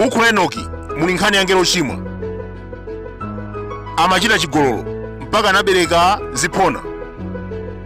m'buku la enoki muli nkhani ya angelo ochimwa amachita chigololo mpaka anabereka ziphona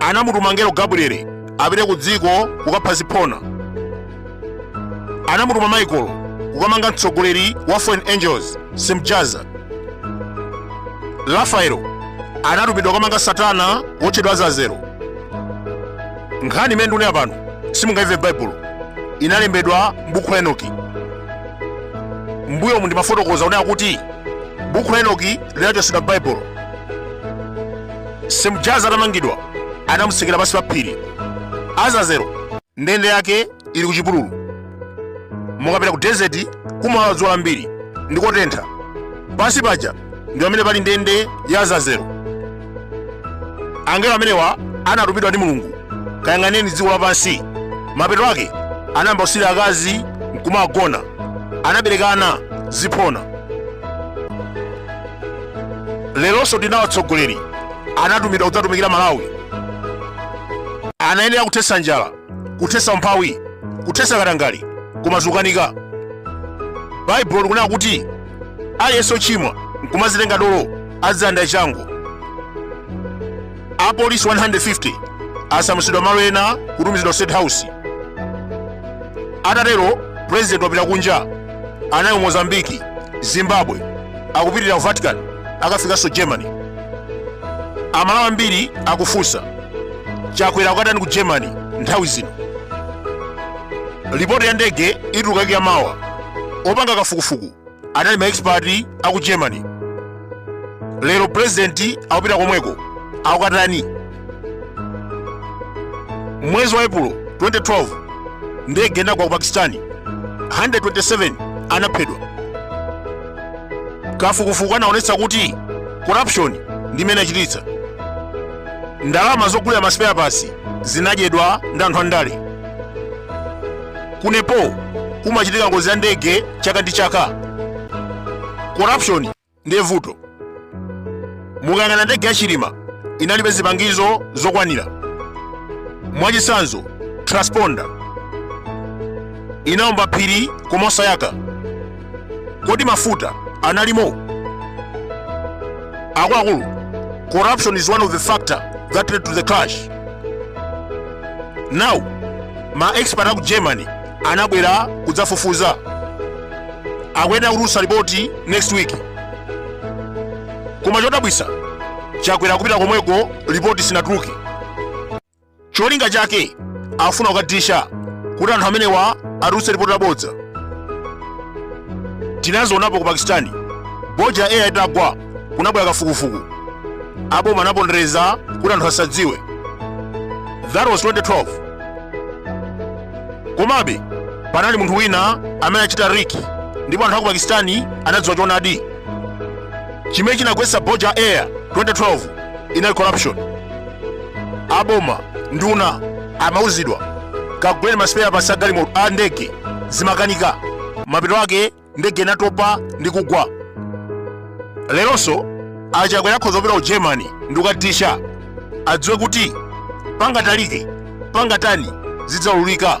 anamutuma ngelo gabrieli apite ku dziko kukapha ziphona anamutuma michael kukamanga mtsogoleri wa fallen angels simjaza rafaelo anatumidwa kukamanga satana wotchedwa azazelo nkhani imene ndikunena pano simungaimve m'baibulo inalembedwa m'buku la enoki mbuyomu ndimafotokoza kunena kuti buku la enoki linachotsedwa baibulo semjaza atamangidwa anamutsekera pansi pa phiri azazero ndende yake ili ku chipululu mukapita ku desert kumawawa dzuwa lambiri ndi kotentha pansi paja ndi pamene pali ndende ya azazero angelo amenewa anatumidwa ndi mulungu kayang'anireni dziko lapansi mapeto ake anayamba kusirira akazi nkumawagona anabereka ana ziphona lerolinso tinawo atsogoleri anatumidwa kudzatumikira malawi anayenera kuthetsa njala kuthetsa umphawi kuthetsa katangale koma zikukanika baibulo likunena kuti aliyense ochimwa nkumazitenga dolo adzalangidwa changu apolisi 150 asamutsidwa malo ena kutumizidwa ku state house atatero president wapita kunja anali ku mozambiki zimbabwe akupitirira ku vatican akafikanso germany amalawi ambiri akufunsa chakwera akukatani ku germany nthawi zino ripoti ya ndege ituluka kuyambira mawa opanga kafukufuku anali maexpert a ku germany lero purezidenti akupita komweko akukatani mwezi wa epulo 2012 ndege inagwa ku pakistani 127 anaphedwa kafukufuku anaonetsa kuti corruption ndi imene achititsa ndalama zogulira masipeyapasi zinadyedwa ndi anthu andale ku nepal kumachitika ngozi ya ndege chaka ndi chaka corruption ndiye vuto mukayang'ana ndege ya chilima inalibe zipangizo zokwanira mwachitsanzo transponder inaomba phiri koma osayaka kodi mafuta analimo akuluakulu corruption is one of the factor that led to the crash now ma expert aku germany anabwera kudzafufuza akuyenera kutulutsa lipoti next week koma chodabwitsa chakwera kupita komweko lipoti sinatuluke cholinga chake afuna kukadisha kuti anthu amenewa atulutse lipoti labodza tinazionapo ku pakistani bhoja air itagwa kunabwera kafukufuku aboma anapondereza kuti anthu asadziwe that was 2012 komabe panali munthu wina amene anachita leak ndipo anthu aku pakistani anadziwa choonadi chimene chinagwetsa bhoja air 2012 inali corruption aboma nduna amauzidwa kaguleni ma spare parts a galimoto a ndege zimakanika mapeto ake ndege inatopa ndi kugwa leronso achakwera akhoza kupita ku germany ndi kukadisha adziwe kuti pangatalike pangatani zidzaululika